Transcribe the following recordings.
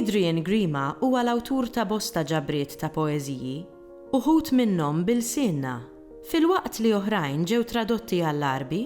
Adrian Grima huwa l-awtur ta' bosta ġabriet ta' poeżiji, uħud minnhom b'ilsienna, filwaqt li oħrajn ġew tradotti għall-Għarbi,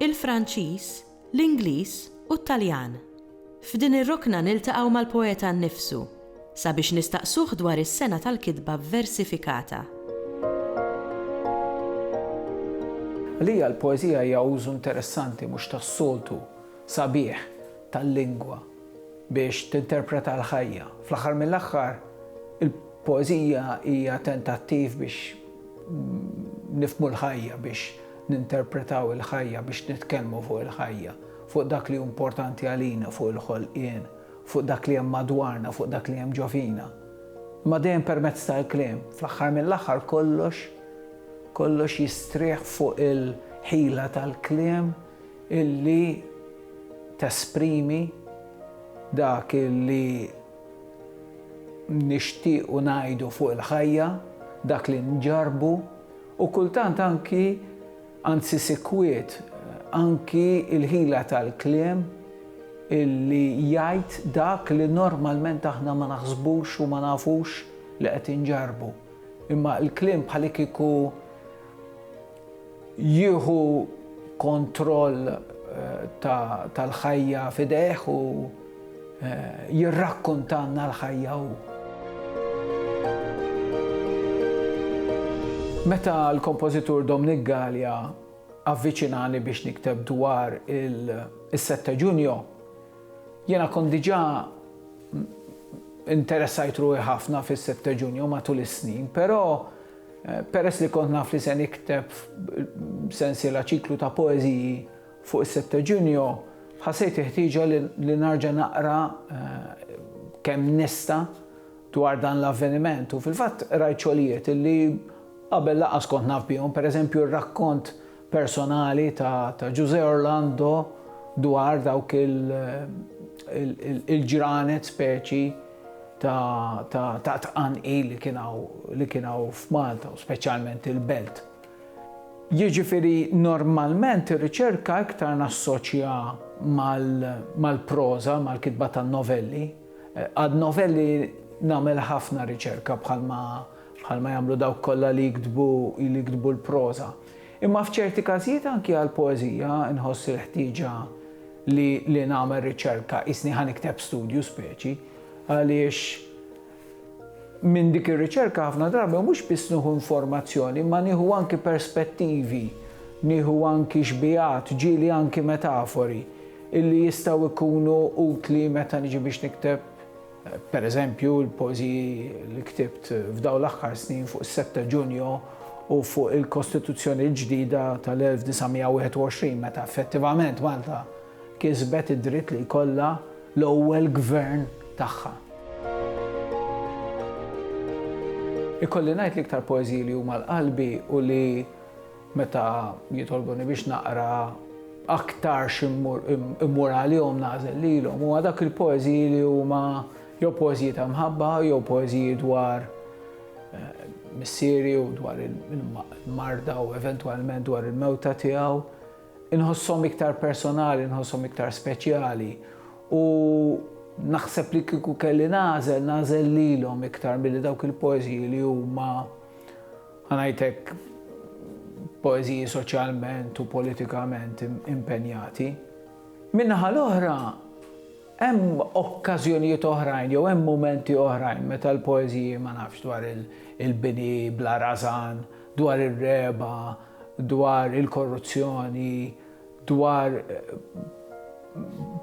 il-Franċiż, l-Ingliż u t-Taljan. F'din ir-rokna niltaqgħu mal-poeta nnifsu sabiex nistaqsuh dwar is-sengħa tal-kitba vversifikata. Għalija l-poeżija hija użu interessanti mhux tas-soltu sabiħ tal-lingwa biex tinterpreta l-ħajja. Fl-aħħar mill-aħħar, il-poeżija hija tentattiv biex nifhmu l-ħajja, biex Ninterpretaw il-ħajja biex nitkellmu fuq il-ħajja, fuq dak li hu importanti għalina, fuq il-ħolqien, fuq dak li hemm madwarna, fuq dak li hemm ġo fina. Imma dejjem permezz tal-kliem. Fl-aħħar mill-aħħar kollox, kollox jistrieħ fuq il-ħila tal-kliem illi tesprimi dak illi nixtiequ ngħidu fuq il-ħajja, dak li nġarrbu, U kultant anki, anzi sikwit, anki l-ħila tal-kliem li jgħid dak li normalment aħna ma naħsbux u ma nafux li qed inġarrbu. Imma l-kliem bħalikieku jieħu kontroll tal-ħajja f'idejh u. jirrakkontalna l-ħajja hu. Meta l-kompożitur Dominic Galea avviċinani biex nikteb dwar il-Sette Ġunju, jiena kont diġà interessajt ruħi ħafna fis-Sette Ġunju matul is-snin, però eh, peress li kont naf li se nikteb sensiela ċiklu ta' poeżiji Fuq is-Setteġinjo ħassejt il-ħtieġa li narġa' naqra kemm nista' dwar dan l-avveniment u fil-fatt qrajt xogħlijiet li qabel lanqas kont naf bihom, pereżempju r-rakkont personali ta' Ġużè Orlando dwar dawk il-ġranet speċi ta' tqanqil li kien hawn f'Malta u speċjalment il-Belt. Jiġifieri normalment ir-riċerka iktar nassoċja mal-proża, mal-kitba tan-novelli. Għad-novelli nagħmel ħafna riċerka bħalma bħalma jagħmlu dawk kollha li jiktbu li jiktbu l-proża. Imma f'ċerti każijiet anki għall-poeżija nħoss il-ħtieġa li li nagħmel riċerka, qisni ħa nikteb studju speċi, għaliex, Minn dik ir-riċerka ħafna drabi mhux biss nieħu informazzjoni imma nieħu anki perspettivi, nieħu anki xbigħat, ġieli anki metafori, illi jistgħu jkunu utli meta niġi biex nikteb, pereżempju, il-poeżiji li ktibt f'dawn l-aħħar snin fuq is-Sett ta' Ġunju u fuq il-Kostituzzjoni l-ġdida tal-1921 meta effettivament Malta kisbet id-dritt li jkollha l-ewwel gvern tagħha. Ikolli ngħid li iktar poeżiji li huma l-qalbi u li meta jitolbuni biex naqra aktar immur għalihom nażel lilhom huwa dak il-poeżiji li huma jew poeżiji ta' mħabba jew poeżiji dwar eh, missieri u dwar il-marda u eventwalment dwar il-mewta tiegħu. Inħosshom iktar personali, inħosshom iktar speċjali u naħseb li kieku kelli nagħżel, nagħżel lilhom iktar milli dawk il-poeżiji li huma ħanajtek poeżiji soċjalment u politikament impenjati. Min-naħa l-oħra, hemm okkażjonijiet oħrajn jew hemm mumenti oħrajn meta l-poeżiji ma nafx dwar il-bini bla rażan, dwar ir-regħba, dwar il-korruzzjoni, dwar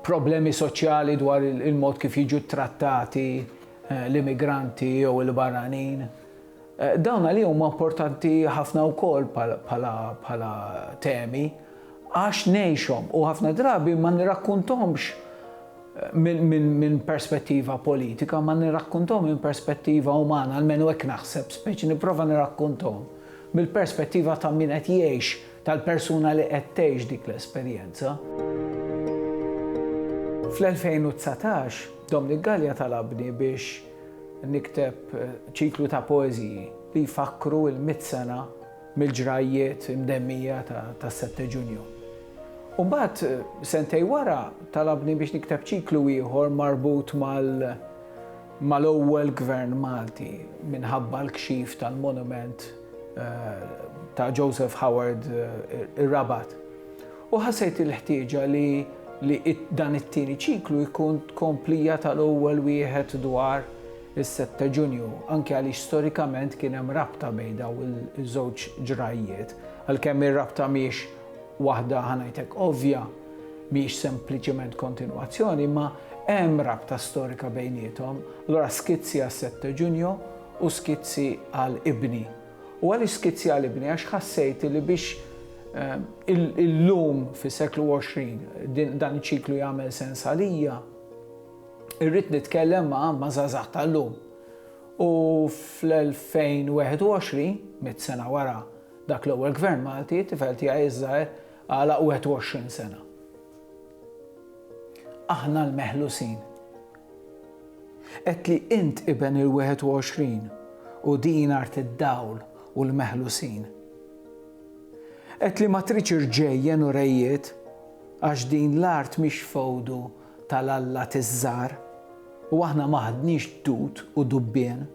problemi soċjali dwar il-mod kif jiġu ttrattati eh, l-immigranti jew il-barranin. Eh, dawn għalihom huma importanti ħafna wkoll bħala temi għax ngħixhom u ħafna drabi ma nirrakkuntomx minn perspettiva politika, ma nirrakkunthom minn perspettiva umana, almenu hekk naħseb, speċi nipprova nirrakkunthom mill-perspettiva ta' min qed jgħix, tal-persuna li qed tgħix dik l-esperjenza. Fl-2019, Dominic Galea talabni biex nikteb ċiklu ta' poeżiji li jfakkru l-mitt sena mill-ġrajjiet imdemmija tas-Sette Ġunju. U mbagħad, sentejn wara, talabni biex nikteb ċiklu ieħor marbut mal-ewwel Gvern Malti minħabba l-kxif tal-monument ta' Joseph Howard ir-Rabat. U ħassejt il-ħtieġa li li dan it-tieni ċiklu jkun tkomplija tal-ewwel wieħed dwar is-Sett ta' Ġunju, anki għaliex storikament kien hemm rabta bejn dawn iż-żewġ ġrajjiet. Għalkemm ir-rabta mhijiex waħda ħa ngħidlek ovvja, mhijiex sempliċement kontinwazzjoni, imma hemm rabta storika bejniethom. Allura skizzi għas-Sett ta' Ġunju u skizzi għal ibni. U għaliex skizzi għal ibni? Għax ħassejt li biex illum fis-seklu 20 dan iċ-ċiklu jagħmel sens għalija, Irrid nitkellem ma' ma' żgħażagħ tal-lum. U fl-2021, mitt sena wara dak l-ewwel Gvern Malti, it-tifel tiegħi iż-żgħir għalaq 21 sena. Aħna l-meħlusin. Għedtli int iben il-21 u din art id-dawl u l-meħlusin. Għedtli ma tridx irġejjen u rejjiet għax din l-art mhix fewdu tal-allat iż-żgħar, u aħna ma ħadniex dud u dubbien.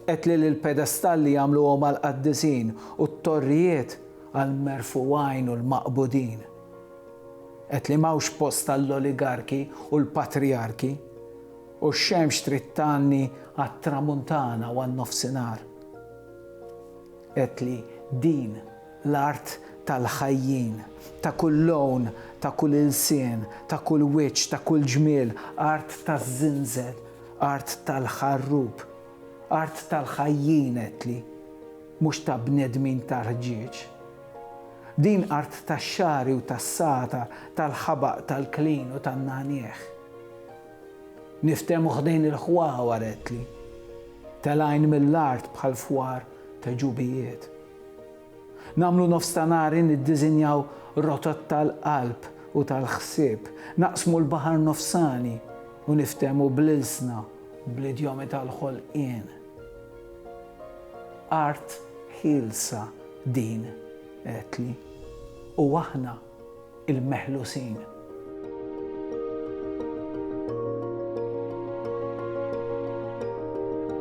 Għedt li l-pedestalli jagħmluhom għall-qaddisin u t-torrijiet għall-merfugħin u l-maqbudin. Għedt li m'hawnx post għall-oligarki u l-patrijarki, u x-xemx trid tgħanni għat-tramuntana u għan-nofsinhar. Għedt li din L-art tal-ħajjin, ta' kull lown, ta' kull ilsien, ta' kull wiċċ, ta' kull ġmiel, art taż-żinżel, art tal-ħarrub, art tal-ħajjin għedtli, mhux ta' bnedmin tar-rġieġ. Din art tax-xagħri u tas-sata, tal-ħabaq, tal-klin u tan-nagħniegħ. Niftehmu ħdejn il-ħwawar għedtli, telgħin mill-art bħal fwar ta' ġubijiet. Nagħmlu nofs ta' nhari niddiżinjaw rotot tal-qalb u tal-ħsieb, naqsmu l-baħar nofsani u niftehmu bl-ilsna, bl-idjomi tal-ħolqien. Art ħielsa din, għedtli. U aħna l-meħlusin.